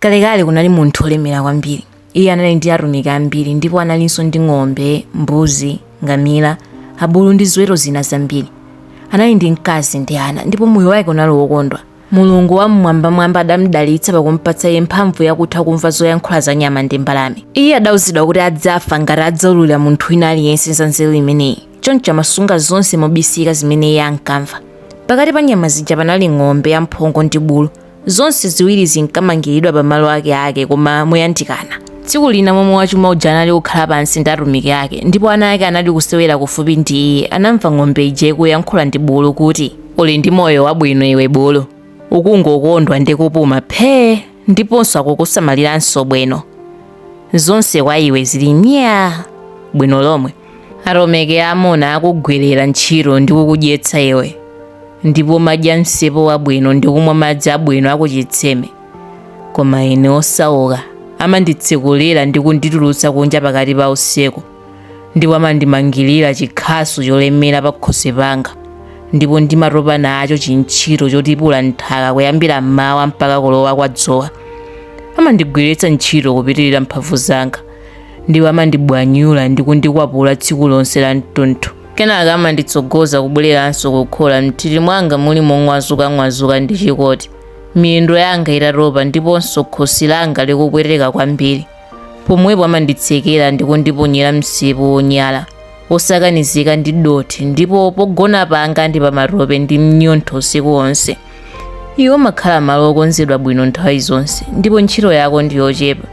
Kalekale kunali munthu olemera kwambiri. Iye anali ndi atumiki ambiri ndipo analinso ndi ng'ombe, mbuzi, ngamila, abulu ndi ziweto zina zambiri. Anali ndi mkazi ndi ana ndipo moyo wake unali wokondwa. Mulungu Wam'mwambamwamba adamudalitsa pakumpatsa iye mphamvu yakutha kumva zoyankhula za nyama ndi mbalame. Iye adauzidwa kuti adzafa ngati adzaululira munthu wina aliyense za nzeru imeneyi. Choncho amasunga zonse mobisika zimene iye ankamva. Pakati pa nyama zija panali ng'ombe yamphongo ndi bulu. Zonse ziwiri zinkamangiridwa pamalo akeake koma moyandikana. Tsiku lina momwe wachuma uja anali kukhala pansi ndi atumiki ake, ndipo ana ake anali kusewera kufupi ndi iye. Anamva ng'ombe ija ikuyankhula ndi bulu kuti. Uli ndi moyo wabwino iwe bulu. Ukungokondwa ndi kupuma phee ndiponso akukusamaliranso bwino. Zonse kwa iwe zili myaa bwino lomwe. atumiki amuna akukugwirira ntchito ndi kukudyetsa iwe ndipo umadya msipu wabwino ndi kumwa madzi abwino akuchitsime koma ine osauka amanditsekulira ndi kunditulutsa kunja pakati pa usiku ndipo amandimangirira chikhasu cholemera pa khosi panga ndipo ndimatopa nacho chintchito chotipula nthaka kuyambira mmawa mpaka kulowa kwa dzuwa amandigwiritsa ntchito kupitirira mphamvu zanga ndipo amandibwanyula ndi kundikwapula tsiku lonse la mtunthu kenaka amanditsogoza kubwereranso kukhola m'nthiti mwanga muli mong'wazukang'wazuka ndi chikoti miyendo yanga itatopa ndiponso khosi langa likupweteka kwambiri pomwepo amanditsekera ndi kundiponyera msipu wonyala wosakanizika ndi dothi ndipo pogona panga ndi pamatope ndi mnyontho usiku wonse iwe umakhala malo okonzedwa bwino nthawi zonse ndipo ntchito yako ndi yochepa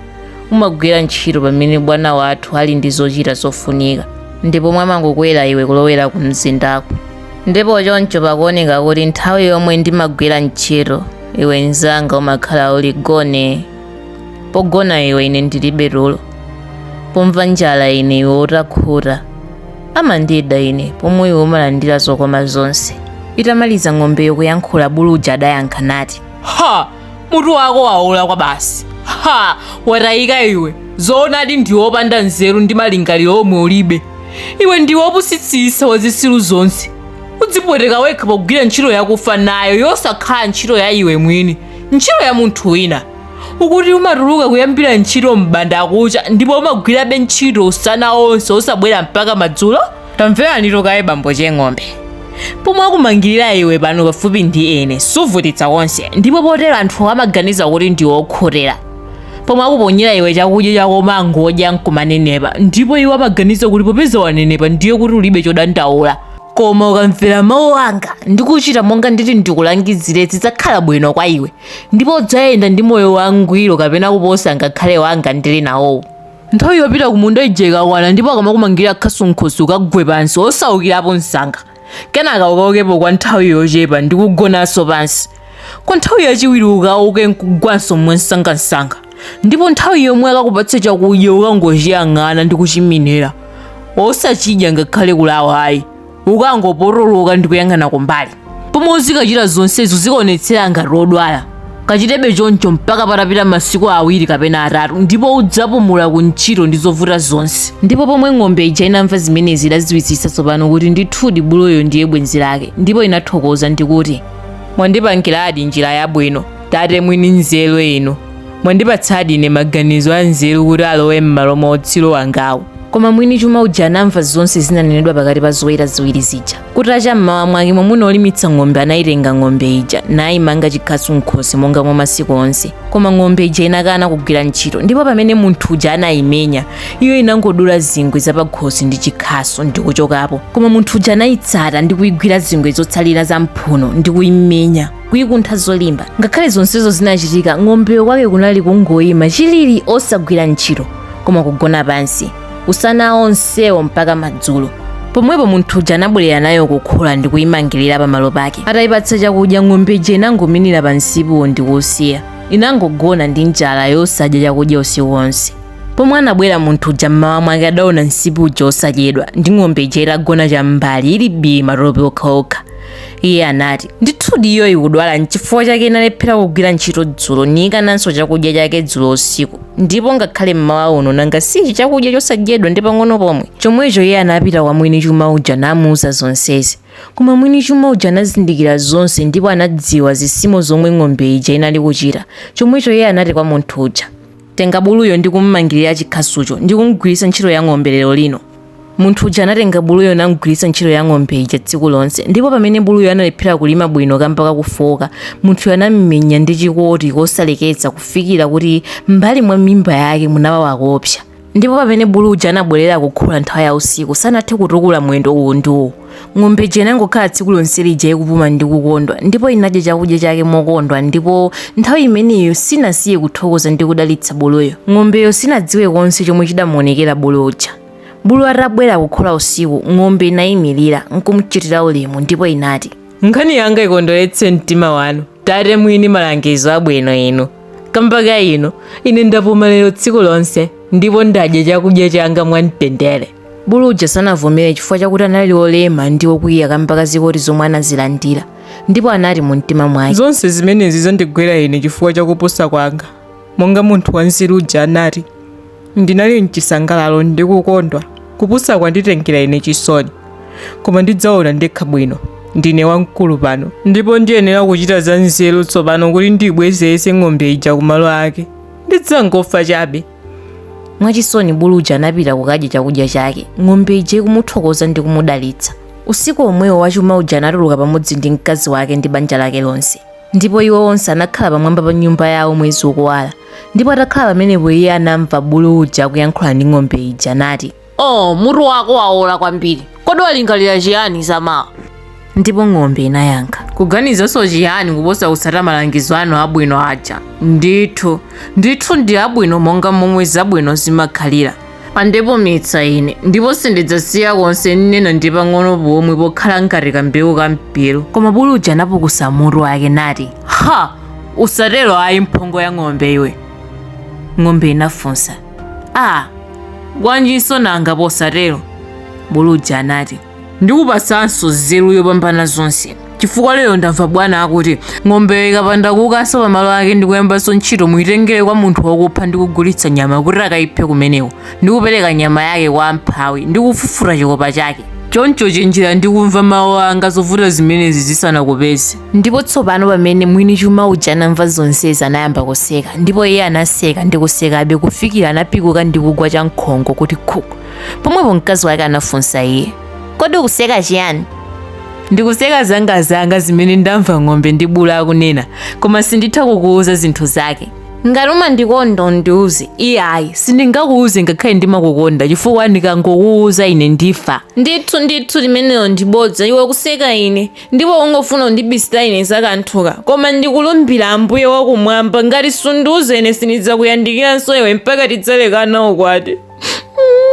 umagwira ntchito pamene bwana wathu ali ndi zochita zofunika ndipo umo amangokwera iwe kulowera ku mzindako ndipo choncho pakuoneka kuti nthawi yomwe ndimagwira ntchito iwe mzanga umakhala uli gone pogona iwe ine ndilibe tulo pomva njala ine iwe utakhuta amandida ine pomwe iwe umalandira zokoma zonse itamaliza ng'ombeyo kuyankhula bulu uja adayankha nati ha mutu wako waola kwabasi ha watayika iwe zoonadi ndiwe opanda nzeru ndi malingaliro omwe ulibe iwe ndiwe opusitsitsa wa zitsiru zonse udzipweteka wekha pogwira ntchito yakufa nayo yosakhala ntchito ya iwe mwini ntchito ya munthu wina ukuti umatuluka kuyambira ntchito m'banda kucha ndipo umagwirabe ntchito usana onse osabwera mpaka madzulo tamvera nditu kaye bambo che ng'ombe pomwe akumangirira iwe pano pafupi ndi ine suvutitsa konse ndipo potero anthu amaganiza kuti ndiwe okhutira pomwe akuponyera iwe chakudya chako umangodya nkumanenepa ndipo iwo amaganiza kuti popeza wanenepa ndiye kuti ulibe chodandaula koma ukamvera mawu anga ndikuchita monga nditi ndikulangizire zidzakhala bwino kwa iwe ndipo udzayenda ndi moyo wangwiro kapena kuposa ngakhale wanga ndili nawowu nthawi yopita kumunda ija ikakwana ndipo akamakumangira khasu m'khosi ukagwe pansi osaukirapo msanga kenaka ukaukepo kwa nthawi yochepa ndi kugonanso pansi kwa nthawi yachiwiri ukauke nkugwanso mwansangansanga ndipo nthawi yomwe akakupatsa chakudya ukangochiyang'ana ndi kuchiminira osachidya ngakhale kulawa ayi ukangopotoloka ndi kuyang'ana kumbali pomwe uzikachita zonsezi uzikaonetsera ngati wodwala kachitebe choncho mpaka patapita masiku awiri kapena atatu ndipo udzapumula ku ntchito ndi zovuta zonse ndipo pomwe ng'ombe ija inamva zimenezi idadziwitsitsa tsopano kuti ndithudi buluyo ndiye bwenzi lake ndipo inathokoza ndikuti mwandipangiradi njira yabwino Tate mwini nzeru inu, mwandipatsadi ine maganizo anzeru kuti alowe m'malo mwa utsiru wangawu. Koma mwini chuma uja anamva zonse zinanenedwa pakati pa zoweta ziwiri zija. Kutacha m'mawa mwake mwamuna olimitsa ng'ombe anayitenga ng'ombe ija nayimanga chikhasu m'khosi monga mwa masiku onse. Koma ng'ombe ija inakana kugwira ntchito ndipo pamene munthu uja anayimenya, iyo inangodula zingwe zapakhosi ndi chikhasu ndi kuchokapo. Koma munthu uja anayitsata ndi kuyigwira zingwe zotsalira za m'mphuno ndi kuyimenya. kuikuntha zolimba ngakhale zonsezo zinachitika ng'ombeyo kwake kunali kungoyima chilili osagwira ntchito koma kugona pansi usana onsewo mpaka madzulo pomwepo munthu uja anabwerera nayo kukhola ndi kuyimangirira pamalo pake atayipatsa chakudya ng'ombe ija inangominira pa nsipu ndi kuwusiya inangogona ndi njala yosadya chakudya usiku wonse pomwe anabwera munthu uja mmawa mwake adaona nsipu uja osadyedwa ndi ng'ombe ija itagona cham'mbali ili bii matope okhaokha iye anati ndithudi iyo ikudwala nchifukwa chake inalephera kugwira ntchito dzulo niyikananso chakudya chake dzulo usiku ndipo ngakhale mmawa uno nanga sichi chakudya chosadyedwa ndi pang'ono pomwe chomwecho iye anapita kwa mwini chuma uja namuuza zonsezi koma mwini chuma uja anazindikira zonse ndipo anadziwa zisimo zomwe ng'ombe ija inali kuchita chomwecho iye anati kwa munthu uja Tenga buluyo ndi kum'mangirira chikhasucho ndi kum'gwiritsa ntchito ya ng'ombe lero lino. Munthu uja anatenga buluyo nam'gwiritsa ntchito ya ng'ombe ija tsiku lonse, ndipo pamene buluyo analephera kulima bwino kamba ka kufooka, munthuyo anam'menya ndi chikoti kosaleketsa kufikira kuti m'mbali mwa mimba yake munawawa koopsa. Ndipo pamene bulu uja anabwerera kukhola nthawi ya usiku, sanathe kutukula mwendo uwu ndi uwu. Ng'ombe ija inangokhala tsiku lonse lija ikupuma ndi kukondwa, ndipo inadya chakudya chake mokondwa, ndipo nthawi imeneyo sinasiye kuthokoza ndi kudalitsa buluyo. Ng'ombeyo sinadziwe konse chomwe chidamuonekera bulu uja. Bulu atabwera kukhola usiku, ng'ombe inaimirira, nkumchitira ulemu, ndipo inati. Nkhani yanga ikondweretse mtima wanu, tate mwini malangizo abwino inu. Kamba ka inu, ine ndapuma lero tsiku lonse, ndipo ndadya chakudya changa mwamtendere. Bulu uja sanavomere chifukwa chakuti anali olema ndi okwiya kamba ka zikoti zomwe anazilandira ndipo anati mu mtima mwake zonse zimenezi zandigwera ine chifukwa cha kupusa kwanga monga munthu wanzeru uja anati ndinali mchisangalalo ndi kukondwa kupusa kwanditengera ine chisoni koma ndidzaona ndekha bwino ndine wamkulu pano ndipo ndiyenera kuchita za nzeru tsopano kuti ndibwezeretse ng'ombe ija kumalo ake ndidzangofa chabe mwachisoni bulu uja anapita kukadya chakudya chake ng'ombe ija ikumuthokoza ndi kumudalitsa usiku omwewo wachuma uja anatuluka pamodzi ndi mkazi wake ndi banja lake lonse ndipo iwo onse anakhala pamwamba pa nyumba yawo mwezi ukuwala ndipo atakhala pamenepo iye anamva bulu uja akuyankhula ndi ng'ombe ija nati Oh, mutu wako waola kwambiri. Kodi walingalira chiyani za mawa? Ndipo ng'ombe inayankha. Kuganizanso chiyani kuposa kutsata malangizo anu abwino aja? Ndithu, ndithu ndi abwino monga momwe zabwino zimakhalira. Andipumitsa ine, ndipo sindidzasiya konse nnena ndi pang'ono pomwe pokhala ngati kambewu ka mpiru. Koma bulu uja anapukusa mutu wake nati, Ha! Usatero ayi mphongo ya ng'ombe iwe. Ng'ombe inafunsa. Ah, bwanjinso nanga posatero? Bulu uja anati, ndikupatsanso nzeru yopambana zonse. Chifukwa lero ndamva bwana akuti ng'ombeyo ikapanda kukanso pamalo ake ndi kuyambanso ntchito muitengere kwa munthu wakupha ndi kugulitsa nyama kuti akayiphe kumeneko ndi kupereka nyama yake kwa amphawi ndi kufufuta chikopa chake. Choncho chenjera ndi kumva mawu anga zovuta zimenezi zisanakupeze. Ndipo tsopano pamene mwini chuma uja anamva zonsezi anayamba kuseka, ndipo iye anaseka ndi kusekabe kufikira anapikuka ndi kugwa chankhongo kuti khuku. Pomwepo mkazi wake anafunsa iye, Kodi ukuseka chiyani? Ndikuseka zangazanga zimene ndamva ng'ombe ndi bulu akunena, koma sinditha kukuwuza zinthu zake. Ngati umandikonda undiwuze. Iyayi, sindingakuwuze ngakhale ndimakukonda, chifukwa ndikangokuwuza ine ndifa. Ndithu, ndithu, limenelo ndi bodza, iwe ukuseka ine. ndipo ungofuna kundibisira ine za kanthuka, koma ndikulumbira Ambuye wa kumwamba, ngati sundiuza ine sindidzakuyandikiranso iwe mpaka tidzalekana ukwati.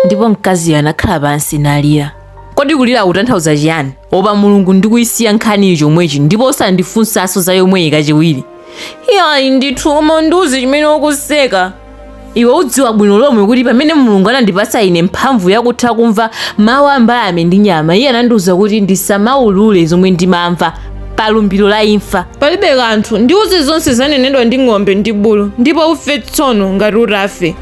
ndipo mkaziyo anakhala pansi nalira kodi kulira kutanthauza chiyani opa mulungu ndikuyisiya nkhaniyi chomwechi ndipo osandifunsanso za yomweyi kachiwiri iyayi ndithu koma undiuze chimene ukuseka iwe udziwa bwino lomwe kuti pamene mulungu anandipatsa ine mphamvu yakutha kumva mawu a mbalame ndi nyama iye anandiwuza kuti ndisamaulule zomwe ndimamva pa lumbiro la imfa palibe kanthu ndiuze zonse zanenedwa ndi ng'ombe ndi bulu ndipo ufe tsono ngati utafe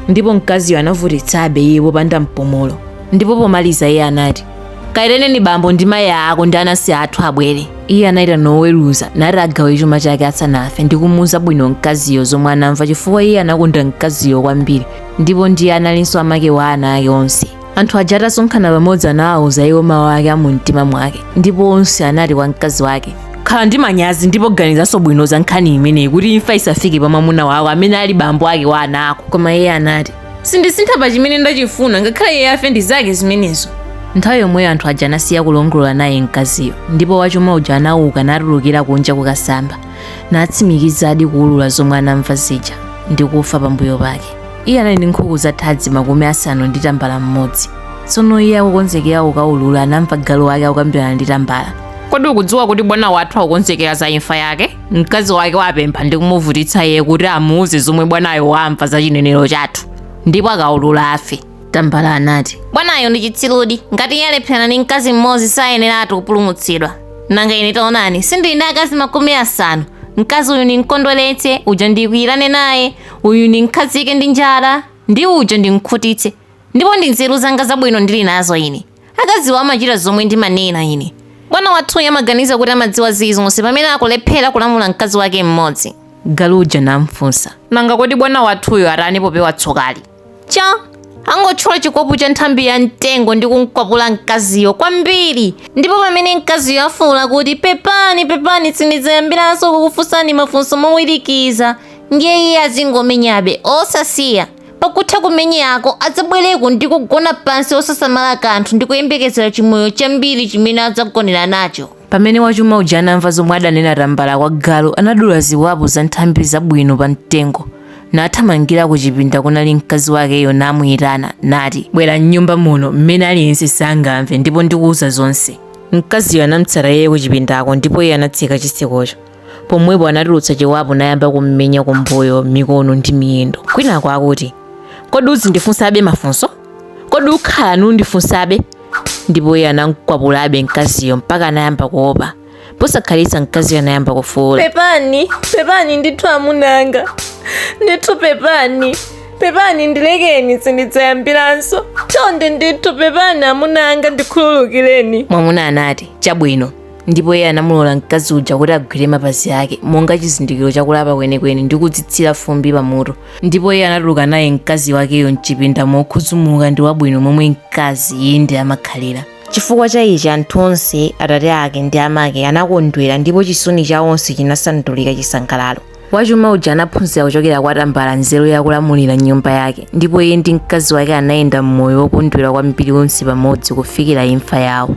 ndipo mkaziyo anavutitsabe iye popanda mpumulo ndipo pomaliza iye anati kayitaneni bambo ndi mayi ako ndi anansi athu abwere iye anayitana noweruza nati agawe chuma chake asanafe ndi kumuuza bwino mkaziyo zomwe anamva chifukwa iye anakonda mkaziyo kwambiri ndipo ndiye analinso amake wa ana ake onse anthu aja atasonkhana pamodzi anawawuza iwo mawu ake a mumtima mwake ndipo onse anati kwa mkazi wake khala ndi manyazi ndipo ganizanso bwino za nkhani imeneyi kuti imfa isafike pa mwamuna wako amene ali bambo ake wa ana ako koma iye anati sindisintha pa chimene ndachifuna ngakhale iye afe ndi zake zimenezo nthawi yomweyo anthu aja anasiya kulongolola naye mkaziyo ndipo wachuma uja anauka natulukira kunja kukasamba natsimikizadi kuulula zomwe anamva zija ndi kufa pambuyo pake iye anali ndi nkhuku za thadzi makumi asanu ndi tambala mmodzi tsono iye akukonzekera kukaulula anamva galu wake akukambirana ndi tambala kodi ukudziwa kuti bwana wathu akukonzekera za imfa yake mkazi wake wapempha ndi kumuvutitsa iye kuti amuuze zomwe bwanayo wamva za chinenero chathu ndipo akaulula afe tambala anati bwanayo ndi chitsirudi ngati iye alephera ndi mkazi mmodzi sayeneratu kupulumutsidwa nanga ine taonani sindili ndi akazi makumi asanu mkazi uyu ndimkondweretse uja ndikwiyirane naye uyu ndimkhazike ndi njala ndi uja ndimkhutitse ndipo ndi nzeru zanga zabwino ndili nazo ine akaziwo amachita zomwe ndimanena ine bwana wathuyo amaganiza kuti amadziwa zilizonse pamene akulephera kulamula mkazi wake mmodzi galu uja namfunsa nanga kodi bwana wathuyo atani popewa tsokali cha angotchola chikopu cha nthambi ya mtengo ndi kumkwapula mkaziyo kwambiri ndipo pamene mkaziyo afuula kuti pepani pepani sindidzayambiranso kukufunsani mafunso mowirikiza ndiye iye azingomenyabe osasiya Pakutha kumenyako, adzabwereko ndi kugona pansi osasamala kanthu ndi kuyembekezera chimoyo chambiri chimene adzagonera nacho. Pamene wachuma uja anamva zomwe adanena tambala kwa galu, anadula ziwapo za nthambi zabwino pa mtengo, nathamangira ku chipinda kunali mkazi wakeyo namuyitana, nati, Bwera m'nyumba muno, m'mene aliyense sangamve, ndipo ndikuwuza zonse. Mkaziyo anamtsata iye kuchipindako, ndipo iye anatseka chitsikocho. pomwepo anatulutsa chiwapo nayamba kummenya kumbuyo mikono ndi miyendo kwinako akuti kodi uzindifunsabe mafunso kodi ukhala nundifunsabe ndipo iye anamkwapulabe mkaziyo mpaka anayamba kuopa posakhalitsa mkaziyo anayamba kufuula pepani pepani ndithu amuna anga ndithu pepani pepani ndilekeni sindidzayambiranso chonde ndithu pepani amuna anga ndikhululukireni mwamuna anati chabwino ndipo iye anamulola mkazi uja kuti agwire mapazi ake monga chizindikiro chakulapa kwenikweni ndi kudzitsira fumbi pamutu ndipo iye anatuluka naye mkazi wakeyo mchipinda mokhuzumuka ndi wabwino momwe mkazi iye ndi amakhalira chifukwa cha ichi anthu onse atate ake ndi amake anakondwera ndipo chisoni cha onse chinasandulika chisangalalo wachuma uja anaphunzira kuchokera kwa tambala nzeru yakulamulira nyumba yake ndipo iye ndi mkazi wake anayenda mmoyo wokondwerera kwambiri onse pamodzi kufikira imfa yawo